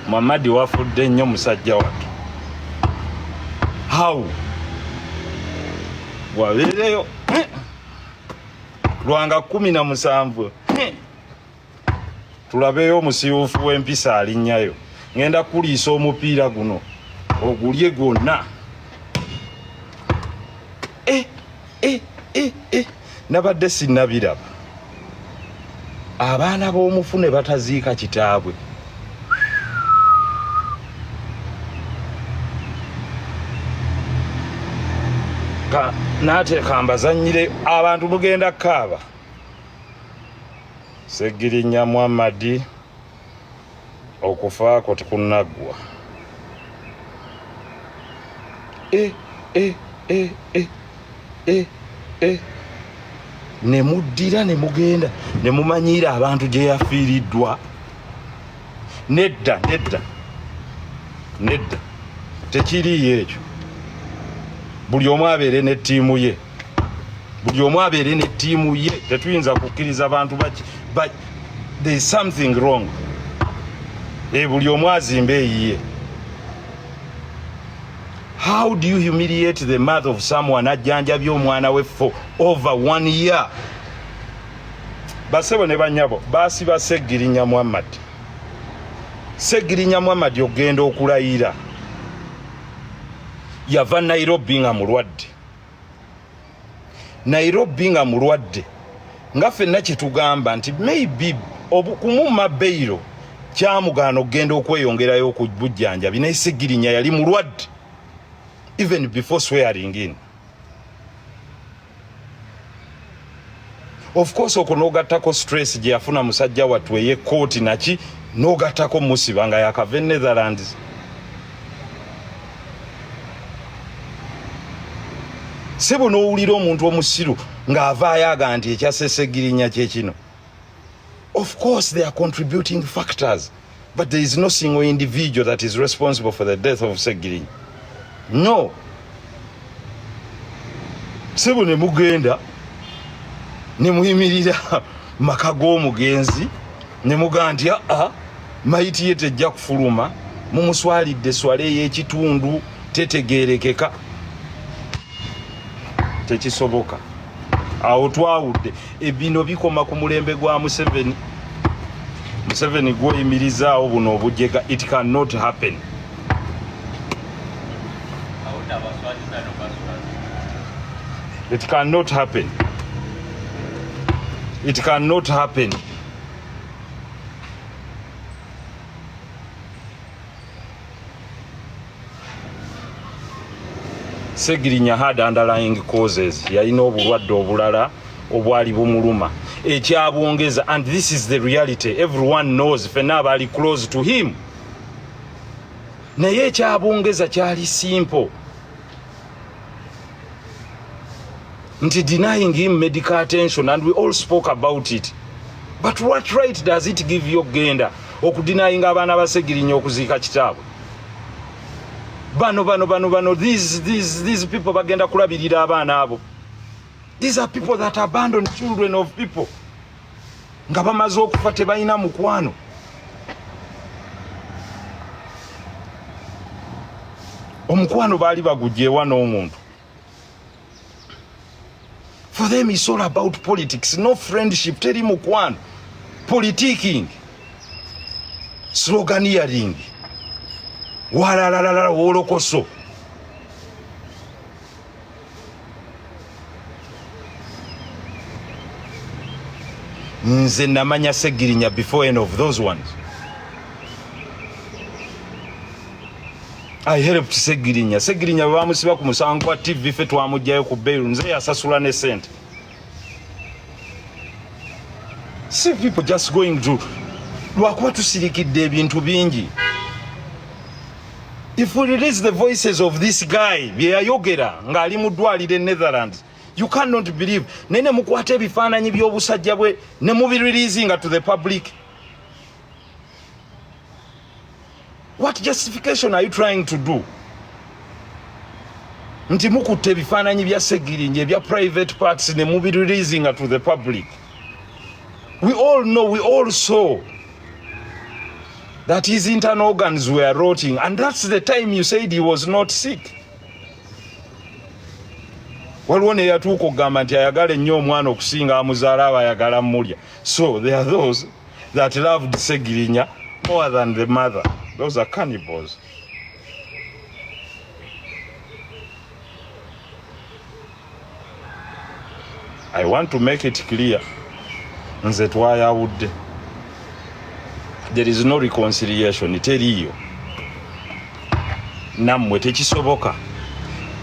Muhammad wafudde nnyo musajja wattu how wabeereyo lwanga kumi na musanvu tulabeeyo omusiwufu w'empisa alinnyayo ngenda kuliisa omupiira guno ogulye gwonna eh. eh, eh, eh. nabadde sinabiraba abaana b'omufu ne bataziika kitaabwe nateeka mbazanyire abantu mugenda kaaba segirinya muhammadi okufa kwo tekunaggwa eh, eh, eh, eh, eh, eh. ne muddira ne mugenda ne mumanyiira abantu gye yafiiriddwa nedda nedda nedda tekiriiyo ekyo buli omu abeere ne ttiimu ye buli omu abeere ne ttiimu ye tetuyinza kukkiriza bantu baki but there is something wrong e buli omu azimba eyiye how do you humiliate the mouth of someone ajjanjabye omwana we for over one year basebo ne banyabo basiba segirinya muhammad segirinya muhammad ogenda okulayira yava nairobi nga mulwadde nairobi nga mulwadde nga fenna kyetugamba nti maybe kumumma beiro kyamugaana okugenda okweyongerayo ku bujjanjabi naye segirinya yali mulwadde even before swearing in of course okwo n'ogattako stress gye yafuna musajja wattu ey'ekkooti naki n'ogattako musiba nga yakava e netherlands sebo n'owulira omuntu omusiru ng'avaayo aga nti ekyasesegirinya kye kino Of course there are contributing factors but there is no single individual that is responsible for the death of Segiri. No. Sebo ne mugenda ne muyimirira maka g'omugenzi ne mugamba nti aa ah, ah, mayiti ye tejja kufuluma mumuswalidde swala ey'ekitundu tetegeerekeka tekisoboka awo twawudde ebino bikoma ku mulembe gwa museveni museveni gwoyimirizaawo buno obujega it can not happen it can not happen it can not happen segirinya had underlying causes yalina obulwadde obulala obwali bumuluma ekyabwongeza and this is the reality everyone knows fena abali close to him naye ekyabwongeza kyali simple nti denying him medical attention and we all spoke about it but what right does it give you okugenda okudinayinga abaana basegirinya okuziika kitaabwe bano bano bano bano these, these, these people bagenda kulabirira abaana abo these are people that abandon children of people nga bamaze okufa tebalina mukwano omukwano baali bagugyewa n'omuntu for them is all about politics no friendship teri mukwano politiking sloganiering walalalala wolokoso nze namanya segirinya before any of those ones i helped segirinya segirinya bamusiba ku musango kwa tv fe twamujjayo ku bail nze yasasula ne sente see people just going to lwakuba tusirikidde ebintu bingi if we release the voices of this guy byeyayogera ng'ali mu ddwaliro e netherlands you cannot believe naye nemukwata ebifaananyi by'obusajja bwe nemubireleasinga to the public What justification are you trying to do? Nti mukutte ebifaananyi bya Segirinje ebya private parts ne mubi releasing to the public. We all know, we all saw that his internal organs were rotting and that's the time you said he was not sick. Waliwo ne yatuuka okugamba nti ayagala ennyo omwana okusinga amuzaala aba ayagala mulya. So there are those that loved Segirinya more than the mother. Those are cannibals. I want to make it clear nze twayawudde there is no reconciliation teriiyo nammwe tekisoboka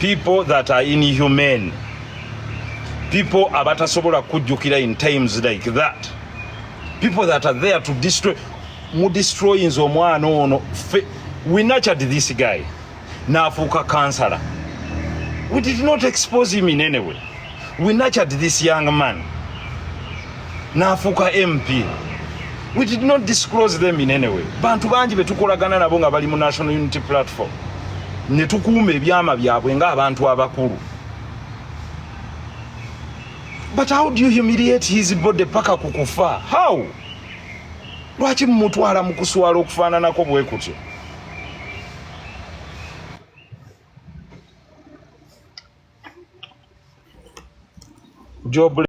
people that are inhumane people abatasobola kujjukira in times like that people that are there to destroy mu destroyinze omwana ono fe we nurtured this guy naafuuka kansala we did not expose him in any way we nurtured this young man naafuuka mp we did not disclose them in any way bantu bangi betukolagana nabo nga bali mu national unity platform ne tukuuma ebyama byabwe ng'abantu abakulu but how do you humiliate his body paka kukufa how lwaki mumutwala mukuswala okufaananako bwe kutyo job